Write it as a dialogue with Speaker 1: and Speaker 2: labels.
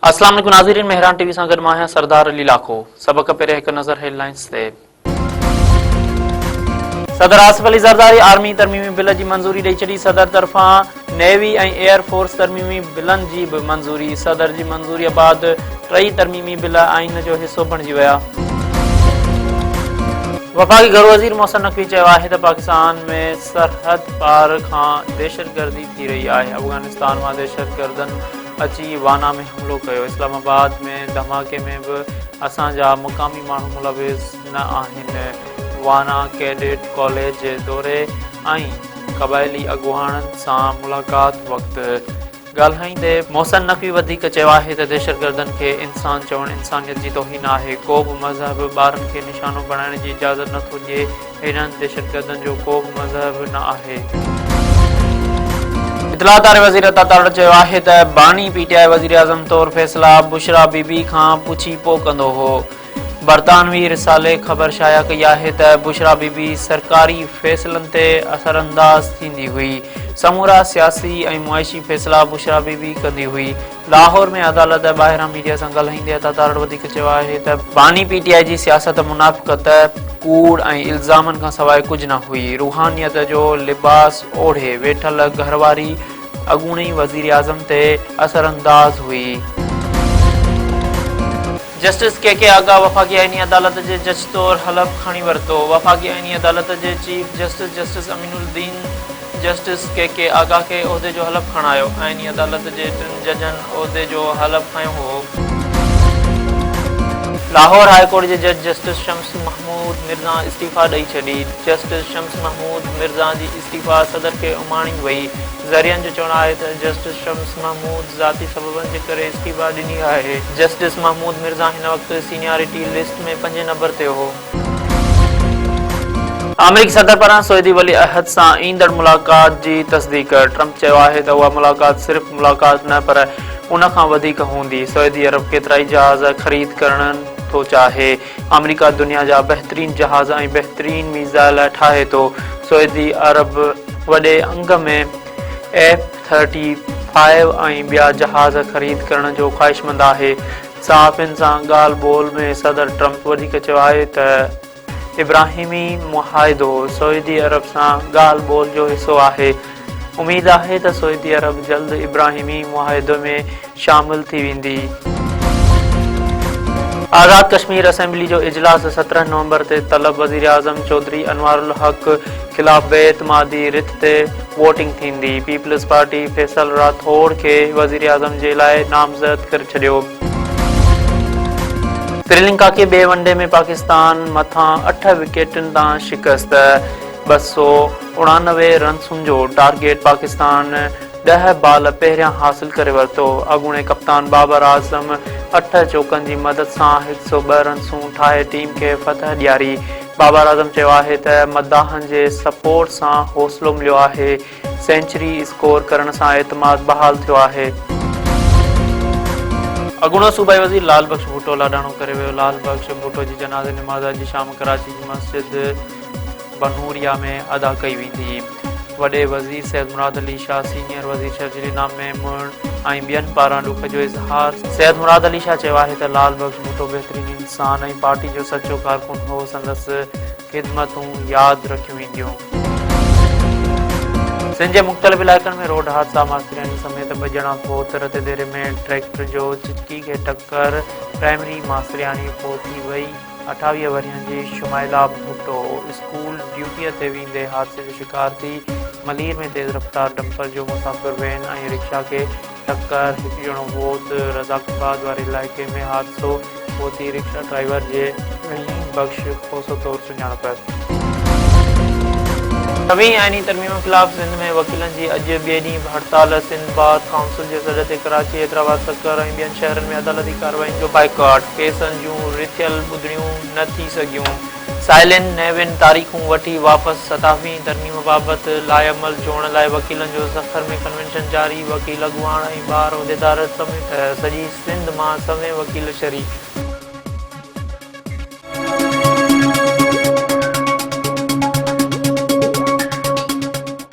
Speaker 1: اسلام عليڪم ناظرين مهران ٽي وي سان گڏ مان آهيان سردار علي لاکو سبق پهرين هڪ نظر هيڊ لائنز تي صدر آصف علي زرداري آرمي ترميمي بل جي منظوري ڏئي ڇڏي صدر طرفان نيوي ۽ ايئر فورس ترميمي بلن جي به منظوري، صدر جي منظوريء بعد ٽئي ترميمي بل آئين جو حصو بڻجي ويا. وفاقي گهرو وزير محسن نقوي چيو آهي ته پاڪستان ۾ سرحد پار کان دهشتگردي ٿي رهي آهي، افغانستان مان دهشتگردن اچي وانا ۾ حملو ڪيو، اسلام آباد ۾ ڌماڪي ۾ به اسان جا مقامي ماڻهو ملوث نه آهن، وانا ڪيڊٽ ڪاليج دوري ۽ قبائلي اڳواڻن سان ملاقات وقت ڳالهائيندي محسن نقوي وڌيڪ چيو آهي ته دهشتگردن کي انسان چوڻ انسانيت جي توهين آهي، ڪو به مذهب ٻارن کي نشانو بڻائڻ جي اجازت نه ٿو ڏئي، هنن دهشتگردن جو ڪو به مذهب نه آهي. اطلاعات واري وزير عطا تارڙ چيو آهي ته باني پي ٽي آء وزيراعظم طور فيصلا بشريٰ بي بي کان پڇي پوء ڪندو هو، برطانوي رسالي خبر شايع ڪئي آهي ته بشريٰ بي بي سرڪاري فيصلن تي اثرانداز ٿيندي هئي. سمورا سياسي ۽ معاشي فيصلا بشريٰ بي بي ڪندي هئي. لاهور ۾ عدالت ٻاهران ميڊيا سان ڳالهائيندي عطا تارڙ وڌيڪ چيو آهي ته، باني پي ٽي آء جي سياست منافقت، ڪوڙ ۽ الزامن کان سواء ڪجهه نه هئي. روحانيت جو لباس اوڙهي ويٺل گهر واري اڳوڻي وزيراعظم تي اثرانداز هئي. جسٽس ڪي ڪي آغا وفاقي آئيني عدالت جي جج طور حلف کڻي ورتو. وفاقي آئيني عدالت جي chief justice justice Aminuddin justice K K Agha کي عهدي جو حلف کڻايو. آئيني عدالت جي ٽن ججن عهدي جو حلف کنيو هئو. لاهور هاء ڪورٽ جي جج جسٽس شمس محمود مرزا استعيفيٰ ڏئي ڇڏي. جسٽس شمس محمود مرزا جي استعيفيٰ صدر کي اماڻي وئي. ذريعن جو چوڻ آهي ته جسٽس شمس محمود ذاتي سببن جي ڪري استعيفيٰ ڏني آهي. جسٽس محمود مرزا هن وقت سينيارٽي لسٽ ۾ پنجين نمبر تي هو. آمريڪي صدر پاران سعودي ولي عهد سان ايندڙ ملاقات جي تصديق، ٽرمپ چيو آهي ته اها ملاقات صرف ملاقات نه پر ان کان وڌيڪ هوندي، سعودي عرب ڪيترائي جهاز خريد ڪرڻ ٿو چاهي. آمريڪا دنيا جا بهترين جهاز ۽ بهترين ميزائل ٺاهي ٿو، سعودي عرب وڏي انگ ۾ ايف ٿرٽي فائيو ۽ ٻيا جهاز خريد ڪرڻ جو خواهشمند آهي، صحافين سان ڳالهه ٻولهه ۾ صدر ٽرمپ وڌيڪ چيو آهي ته ابراهيمي معاهدو سعودي عرب سان ڳالهه ٻولهه جو حصو آهي، اميد آهي ته سعودي عرب جلد ابراهيمي معاهدو ۾ شامل ٿي ويندي. آزاد ڪشمير اسيمبلي جو اجلاس سترهن نومبر تي طلب، وزيراعظم چوڌري انوارالحق خلاف بي اعتمادي رٿ تي ووٽنگ ٿيندي، پيپلزپارٽي فيصل راٿوڙ کي وزيراعظم جي لاء نامزد ڪري ڇڏيو. سريلنڪا کي ٻئي ون ڊي ۾ پاڪستان مٿان اٺ وڪيٽن تان شڪست، ٻه سؤ. اڻانوي رنسن جو ٽارگيٽ پاڪستان ڏهه بال پهريان حاصل ڪري ورتو، اڳوڻي ڪپتان بابر اعظم اٺ چوڪن جي مدد سان هڪ سؤ ٻه رنسون ٺاهي ٽيم کي فتح ڏياري، بابر اعظم چيو آهي ته مداحن جي سپورٽ سان حوصلو مليو آهي، سينچري اسڪور ڪرڻ سان اعتماد بحال ٿيو آهي. اڳوڻو صوبائي وزير لعل بخش ڀٽو لاڏاڻو ڪري ويو، لعل بخش ڀٽو جي جنازي نماز اڄ شام ڪراچي جي مسجد. بنوريا ۾ ادا ڪئي ويندي. وڏي وزير سيد مراد علي شاهه، سينيئر وزير شرجيل انعام ميمڻ ۽ ٻين پاران ڏک جو اظهار. سيد مراد علي شاهه چيو آهي ته لعل بخش ڀٽو بهترين انسان ۽ پارٽي جو سچو ڪارڪن هو، سندس خدمتون ياد رکيون وينديون. سنڌ جي مختلف علائقن ۾ روڊ حادثا، ماسترياڻي سميت ٻه ڄڻا فوت، رتيديري ۾ ٽريڪٽر جو چٽڪي کي ٽڪر، پرائمري ماسترياڻي فوت ٿي وئي. اٺاويهه ورهين جي شمائلا ڀٽو اسڪول ڊيوٽيء تي ويندي حادثي جو شڪار ٿي، ملير ۾ تيز رفتار ڊمپر جو مسافر وين ۽ رڪشا کي ٽڪر، هڪ ڄڻو فوت، رزاق آباد واري علائقي ۾ حادثو فوتي رڪشا ڊرائيور جي، رحيم بخش کوسو طور سڃاڻپ. نوين آئيني ترميمن خلاف سنڌ ۾ وڪيلن جي اڄ ٻئي ڏينهن به هڙتال، سنڌ بار ڪائونسل جي سڏ تي ڪراچي، حيدرآباد، سکر ۽ ٻين شهرن ۾ عدالتي ڪارروائين جو بائيڪاٽ. ڪيسن جون رٿيل ٻڌڻيون نه ٿي سگهيون. سائلين نيون تاريخون وٺي واپس ستاويهين ترميم بابت لاعمل چوڻ لاء وڪيلن جو سکر ۾ ڪنوينشن جاري، وڪيل اڳواڻ ۽ بار عهديدار سميت سڄي سنڌ مان سوين وڪيل شريڪ.